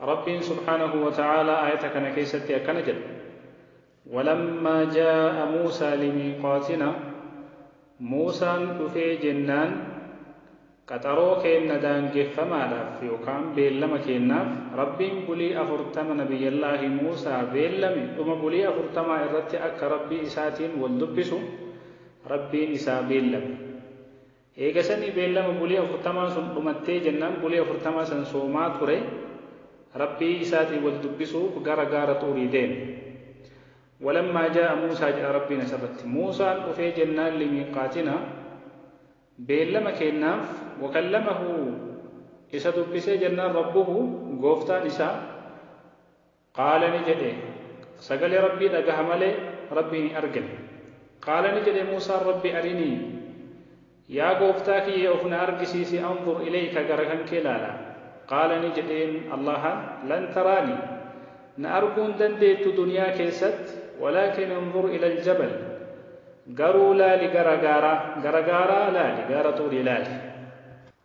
Rabbiin subhaanahu wa ta'aalaa aayata kana keessatti akkana jedha, Walammaa jaa'a Muusaa limiiqaatinaa Muusaan dhufee jennaan qaxaroo keenna daangeffamaadhaaf yookaan beellama keennaaf Rabbiin bulii afurtama Nabiyyallaahi Muusaa beellame dhuma bulii afurtamaa irratti akka Rabbii isaatiin wal dubbisu Rabbiin isaa beellame. Eegasanii beellama bulii afurtamaan sun dhumattee jennaan bulii afurtamaa san soomaa ture, Rabbii isaatiin wal dubbisuuf gara gaara Xuurii deeme. Walammaa jaa'a Muusaa jedha Rabbiin asirratti. Muusaan dhufee jennaan limiiqaatinaa, beellama keennaaf, wakallamahu, isa dubbisee jennaan Rabbuhu, Gooftaan isaa, Qaala ni jedhe, Sagalee Rabbii dhagaha malee Rabbiin hin argan. Qaala ni jedhe Muusaan Rabbi arinii, Yaa Gooftaa kiyya of na argisiisi anzur ilayka gara kankee laala. Qaala ni jedheen Allaahaan, Lan taraani, na arguu hin dandeettu duniyaa keessatti, walaakin inzur ilal jabal, garuu laali gara gaaraa, gara gaaraa laali, gaara Xuurii laali.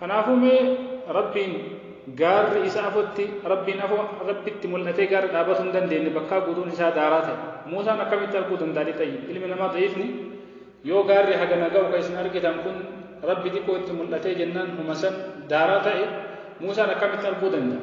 Kanaafuu mee Rabbiin gaarri isa afotti Rabbiin afo Rabbitti mul'atee gaarri dhaabatuu hin dandeenye bakkaa guutuun isaa daaraa ta'e Muusaan akkamitti arguu danda'a lixayyib ilmi namaa da'iifni yoo gaarri hagana ga'u ka isin argitan kun Rabbi xiqqoo itti mul'atee jennaan huma san daaraa ta'e Muusaan akkamitti arguu danda'a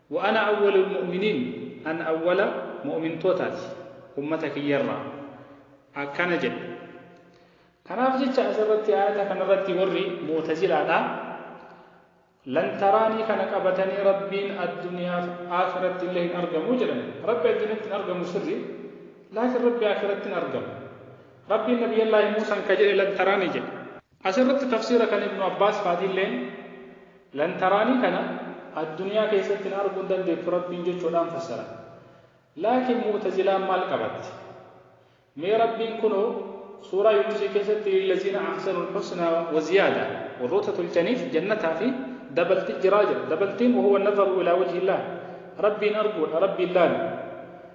Wa ana awwalul mu'miniin, an awwala mu'mintootaati, ummata kiyyarraa. Akkana jedhe. Kanaaf jecha asirratti aayata kanarratti warri mu'tazilaadhaa Lan taraanii kana qabatanii Rabbiin adduniyaaf aakhirattillee hin argamu jedhan. Rabbi adduniyatti hin argamu sirri, laakin Rabbi aakhirattin argama. Rabbiin Nabiyyallaahi Muusan ka jedhe lan taraanii jedhe. As irratti tafsiira kan Ibnu Abbaas faatiilleen, Lan taraanii kana addunyaa keessatti na arguu hin dandeettu Rabbiin jechuudhaan fassaran. Laakiin Mu'tazilaan maal qabatte? Mee Rabbiin kunoo Suuraa Yuunusii keessatti Lillaziina Ahsanul Husnaa wa Ziyaadaa, Warroota tolchaniif jannataa fi dabalti jira jedha. Dabaltiin, Wahuwa Nazaru ilaa Wajhillaah, Rabbiin arguudha, Rabbiin laalu.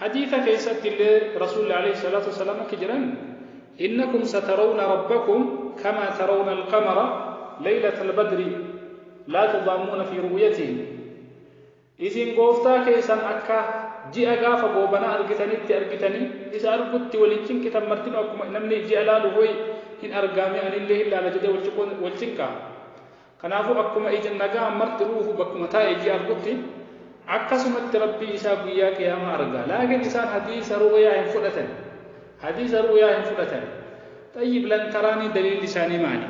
Hadiisa keessatti illee Rasuulli Aleeyhi Salaatu Wassalaam akki jedhan, Innakum satarawna Rabbakum kamaa tarawna al-qamara leeylata al-badri laa tudaammuuna fii ru'yatihi. Isin Gooftaa keessan akka ji'a gaafa goobanaa argitanitti argitanii, isa argutti wal hin cinqitan martinuu akkuma namni ji'a laaluuf wayi hin argaa mee ani illee hin laala jedhee wal cinqaa? Kanaafuu akkuma ija nagaa marti ruuhu bakkuma taa'e ijii argutti akkasumatti Rabbii isaa guyyaa qiyaamaa arga. Laakiin isaan hadiisa ru'uyaa hin fudhatani. Hadiisa ru'uyaa hin fudhatani. Xayyib lan taraanii daliilli isaanii maali?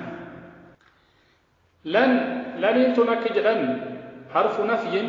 Lan, laniin tun akka jedhan harfu nafyin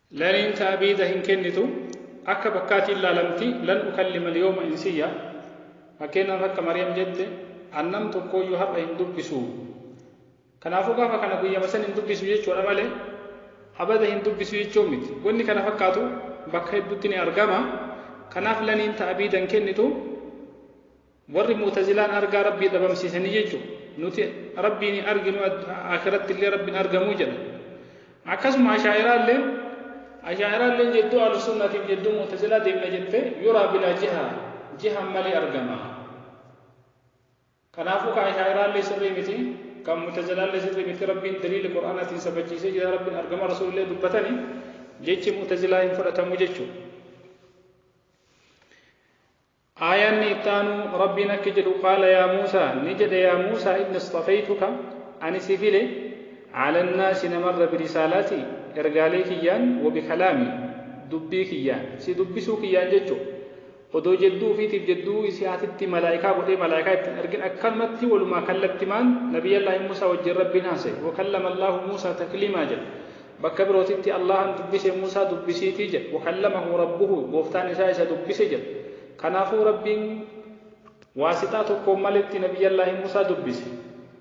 Laniin ta'biida hin kennitu, akka bakkaatiin laalamti, Lan ukallima al-yawma insiyya, Fakkeenyaaf akka Maryam jette, An nam tokkooyyuu har'a hin dubbisu. Kanaafuu gaafa kana guyyama san hin dubbisu jechuudha malee abada hin dubbisu jechuu miti. Wanni kana fakkaatu bakka hedduutti ni argama. Kanaaf laniin ta'biida hin kennitu. Warri mu'tazilaan argaa Rabbii dhabamsiisanii jechu nuti Rabbiin hin arginu aakiratti illee Rabbiin argamuu jedhan. Akkasuma ashaa'iraalleen ashaa'iraalleen jedduu ahlusunnaatiif jedduu mu'tazilaa deemna jette yuraa bilaa jiha jihan malee argama. Kanaafuu ka ashaa'iraallee sirrii miti kan mu'tazilaallee sirrii miti Rabbiin daliila Qur'aanaatiin sabachiisee jira Rabbiin argama Rasuulillee dubbatani jechi mu'tazilaa hin fudhatamu jechuudha. Aayaanni itti aanu Rabbiin akki jedhu qaala yaa Muusa, ni jedhe yaa Muusa inni isxafaytuka, ani si file, cala nnaasi namarra birisaalati, ergaalee kiyyaan, wa bikalaami, dubbii kiyyaan, si dubbisuu kiyyaan jechu, odoo jedduu ufiitiif jedduu isi'aatitti malaaykaa godhee malaaykaa itti hin ergin akkanumatti walumaa kallattimaan nabiyyallaahi Muusa wajjiin Rabbiin haasaye, wa kallama Allaahu Muusa takliimaa jedhe. Bakka birootitti Allaahan dubbise Muusaa dubbisiitii jedha. Wakallamahu Rabbuhu, Gooftaan isaa isa dubbise jedha. Kanaafuu Rabbiin waasixaa tokkoon maletti Nabiyyallaahi Muusaa dubbise.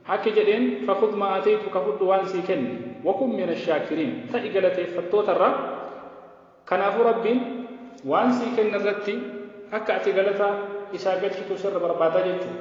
Akki jedheen, Fakhudh maa aataytuka, fudhu waan sii kenne. Wakun mina shaakiriin, ta'i galateeffattootarraa. Kanaafuu Rabbiin waan sii kenne irratti akka ati galata Isaa galchitu sirra barbaada jechuudha.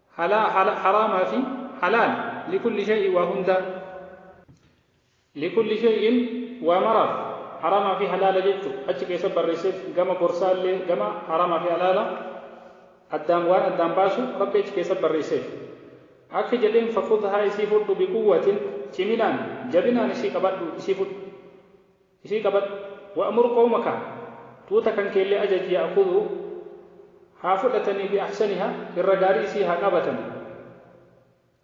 halaa hala haraama fi halaal likulli shay'in waa hundaa likulli shay'in waa maraaf haraama fi halaala jechu achi keessa barreesseef gama gorsaa illee gama haraama fi halaala addaan waan addaan baasu rabbi achi keessa barreesseef akka jedheen fakhudhaa isii fudhu biquwwatin ciminaan jabinaan isii qabadhu isii fudhu Isii qabadhu. Wa'mur qawmaka, tuuta kankeellee ajaji ya'khudhuu, haa fudhatanii bi ahsanihaa, irra gaarii isii haa qabatanii.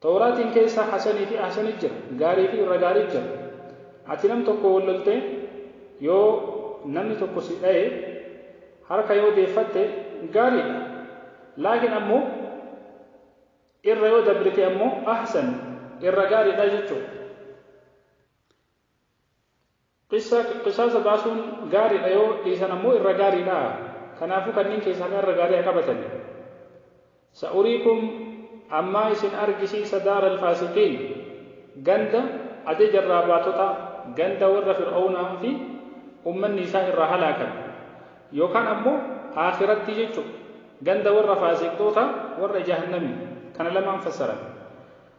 Tawraatiin keessa hasanii fi ahsani jira, gaarii fi irra gaarii jira. Ati nam tokkoon wal loltee, yoo namni tokko si dhaye, harka yoo deeffatte, gaarii dha. Laakiin ammoo irra yoo dabrite ammoo, ahsan, irra gaarii dha jechuudha. Qisaasa baasuun gaariidha yoo dhiisan ammoo irra gaariidha. Kanaafuu kanniin keessaa ka irra gaarii ha qabatani. Sa'uriikum Ammaa isin argisiisa daara al-faasiqiin, ganda, ajaja irraa baatotaa, ganda warra Fir'awnaa fi ummanni isaa irraa halaakame. Yookaan ammoo Aakhirattii jechu'u, ganda warra faasiqxootaa, warra Jahannamii. Kana lamaan fassaran.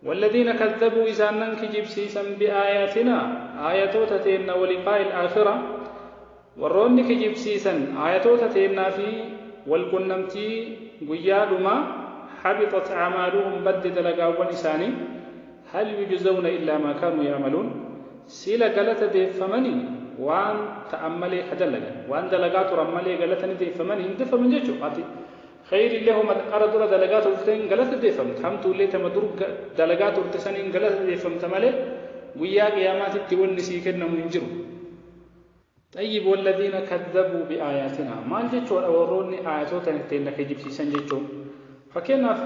Walladhiina kazzabuu isaannan kijibsiisan bi'aayaatinaa aayatoota teenna waliqaa'il aakhira warroonni kijibsiisan aayatoota teennaa fi wal qunnamtii guyyaa dhumaa habixat aamaaluhum badde dalagaawwan isaanii hal yujzawna illaa maa kaanuu ya'maluun siila galata deeffamani waan ta'an malee ka dalagan waan dalagaa turan malee galata ni deeffamani hin deffaman jechu ati Kheyriillee homa xiqqaarra dura dalagaa turteen galata deeffamta, hamtuullee tama dur dalagaa turte saniin galata deeffamta malee guyyaa qiyaamaatitti wanni sii kennamu hin jiru. Xayyib walladhiina kazzabuu bi'aayaatinaa maal jechuudha warroonni aayatoota teenna kijibsiisan jechuun? Fakkeennaaf.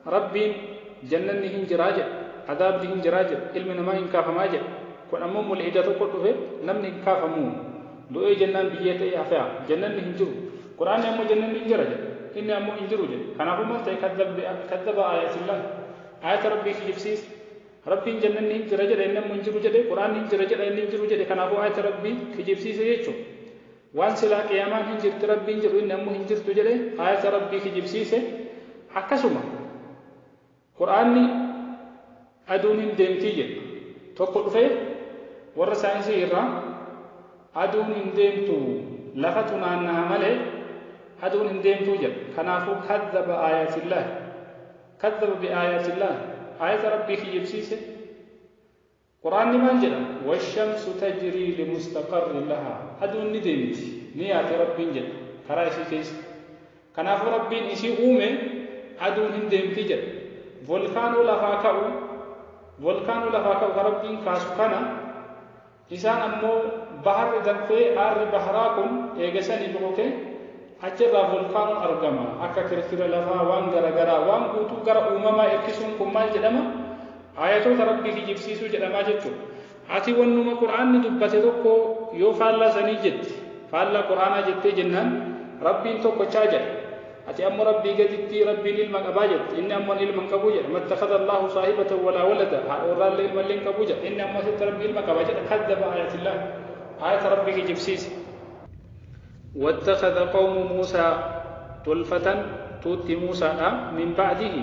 Rabbiin jannanni hin jiraa jedhe, adaabni hin jiraa jedhe, ilmi namaa hin kaafamaa jedhe. Kun ammoo mulhida tokko dhufe namni hin kaafamu, du'ee jennaan biyyee ta'ee hafea, jannanni hin jiru. Qur'aanni ammoo jannanni hin jira jedhe, inni ammoo hin jiru jedhe. Kanaafuu maal ta'e kaddaba aayaatillah, aayata Rabbii kijibsiise. Rabbiin jannanni hin jira jedha inni ammoo hin jiru jedhe, Qur'aanni hin jira jedha inni hin jiru jedhe kanaafuu aayata Rabbii kijibsiise jechuudha. Waan silaa qiyaamaan hin jirti Rabbiin jedhu inni ammoo hin jirtu jedhe aayata Rabbii kijibsiise. Akkasuma Qur'aanni aduun hin deemti jedhu tokko dhufee warra saayinsii irraa aduun hin deemtu lafatu naanna'a malee aduun hin deemtu jedha. Kanaafuu kazzaba aayatillaahi kazzaba bi'aayaatillaahi aayata Rabbii kijibsiise. Qur'aanni maal jedha? Washamsu tajrii limustaqarrin lahaa, Aduun ni deemti, ni yaati Rabbiin jedha karaa isii keessa. Kanaafuu Rabbiin isii uume aduun hin deemti jedha. Volkaanoo lafaa ka'u, Volkaanoo lafaa ka'u ka Rabbiin kaasu kana, isaan ammoo baharri danfee aarri baharaa kun eega sanii bokoke achi irraa volkaanoon argama. Akka kirkira lafaa waan gara garaa waan guutuu gara uumamaa erkisuun kun maal jedhama? Aayatoota Rabbii kijibsiisuu jedha maa jechuudha? Ati wannuma Qur'aanni dubbate tokko yoo faallaa sanii jette, faallaa Qur'aanaa jettee jennaan, Rabbiin tokkochaa jedha. Ati ammo Rabbii gaditti Rabbiin ilma qabaa jette, inni ammo ani ilma hin qabu jedha. Mattakhadha Allaahu saahibatan walaa walada, haadha warraallee ilmallee hin qabu jedha. Inni ammo asitti Rabbi ilma qaba jedha. Kaddaba aayatillaah, aayata Rabbii kijibsiise. Wattakhadha qawmu Muusaa, tolfatan tuutti Muusaadhaa, min ba'dihi,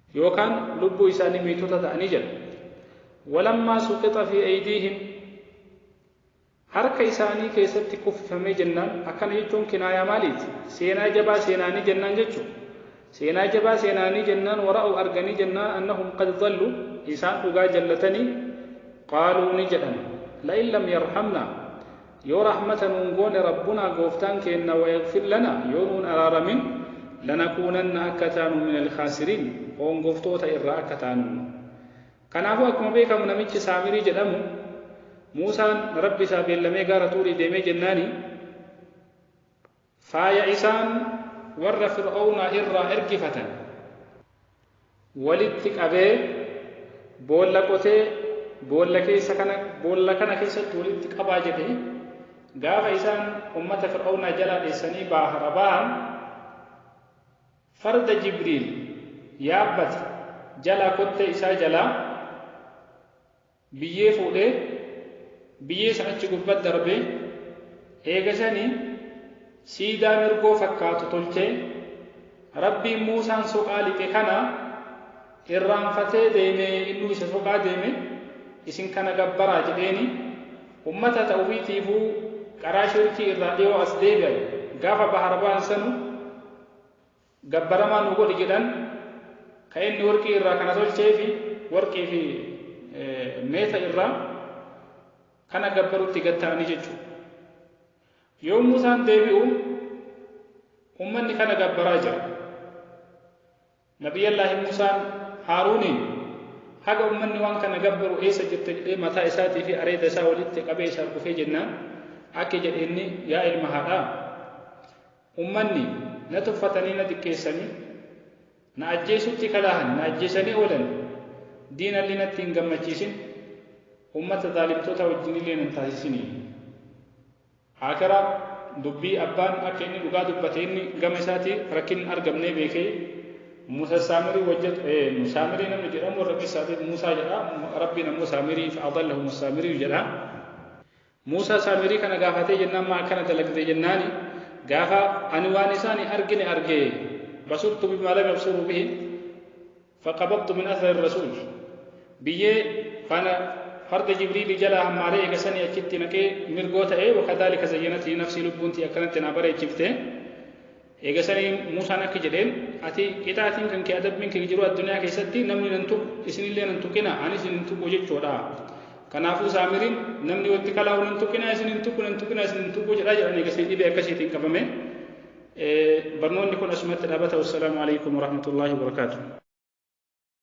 yookaan lubbuu isaanii miitota ta'anii jedha. Walammaa suqixa fii aydiihim harka isaanii keessatti kuffifamee jennaan akkana jechuun kinaayaa maaliiti? Seenaa jabaa seenaanii jennaan jechu. Seenaa jabaa seenaanii jennaan wara'u arganii jennaan annahum qad dallu isaan dhugaa jallatanii qaaluu ni jedhan la'in lam yarhamna Yoo rahmata nuun goone Rabbunaa Gooftaan keenna wayaghfir lana yoo nuun araaramin lanakuunanna akka taanu minal khaasiriin hoongoftoota irraa akka taanumma. Kanaafu akkuma beekamu namichi Saamirii jedhamu Muusaan Rabbi isaa beellamee gaara Xuurii deemee jennaani, Faaya isaan warra Fir'awnaa irraa ergifatan walitti qabee boolla qotee boolla keessa kana boolla kana keessatti walitti qabaa jedhe gaafa isaan ummata Fir'awnaa jalaa dheessanii baahara baahan farda Jibriil yaabbate jalaa kottee isaa jalaa biyyee fuudhee biyyee san achi gubbat darbee eegasani siidaa mirgoo fakkaatu tolchee Rabbiin Muusaan soqaa lixe kana irraanfatee deeme innuu isa soqaa deeme isin kana gabbaraa jedheeni ummata ta ufiitiifuu qaraa shirkii irraa dhiyoo as deebi'an gaafa bahara bahan sanu gabbaramaa nuu godhi jedhan, ka inni worqii irraa kana tolcheefi worqii fi meeta irraa kana gabbarutti gad ta'anii jechuudha. Yoo Muusaan deebi'u ummanni kana gabbaraa jira. Nabiyyallaahi Muusaan Haaruuniin haga ummanni waan kana gabbaru eessa jirta jedhee mataa isaatii fi areeda isaa walitti qabee isa argufee jennaan akki jedhe inni yaa ilma haadhaa Ummanni, na tuffatanii na xiqqeessanii, na ajjeesutti kalaahan, na ajjeesanii oolan, diinallee natti hin gammachiisin, ummata zaalimtootaa wajjinillee na hin taasisinii. Aakhira, dubbii abbaan akka inni dhugaa dubbate inni gama isaatii rakkinni hin argamnee beekee, Muusa Saamirii wajjin, ee, Saamirii namni jedhamu warra Qissaatiif Muusaa jedha, Rabbiin ammoo Saamirii, fa adallahum as-Saamiriyu jedha. Muusaa Saamirii kana gaafatee jennaan maa akkana dalagde jennaani gaafa ani waan isaan hin argine arge basurtu bimaa lam yabsuruu bihi faqabadtu min athari rasuul biyyee faana farda jibriilii jalaa hammaaree eegasanii achitti naqee mirgoo ta'ee wakadaalika zayyanati nafsii lubbuuntii akkanatti naa bareechifte Eegasanii Muusaan akki jedheen, Ati, qixaatiin kan kee, adabbiin kee jiruu addunyaa keessatti namni nan tuqu, isinillee nan tuqinaa, anis isin hin tuqu jechuudha. Kanaafuu Saamiriin, namni watti kalaa'u nan tuqinaa, isin hin tuqu, nan tuqinaa, isin hin tuqu jedhaa jedhan eegasanii dhibee akkasiitiin qabame. Barnoonni kun asumatti dhaabata. Wassalaamu alaikum warahmatullaahi wabarakaatuh.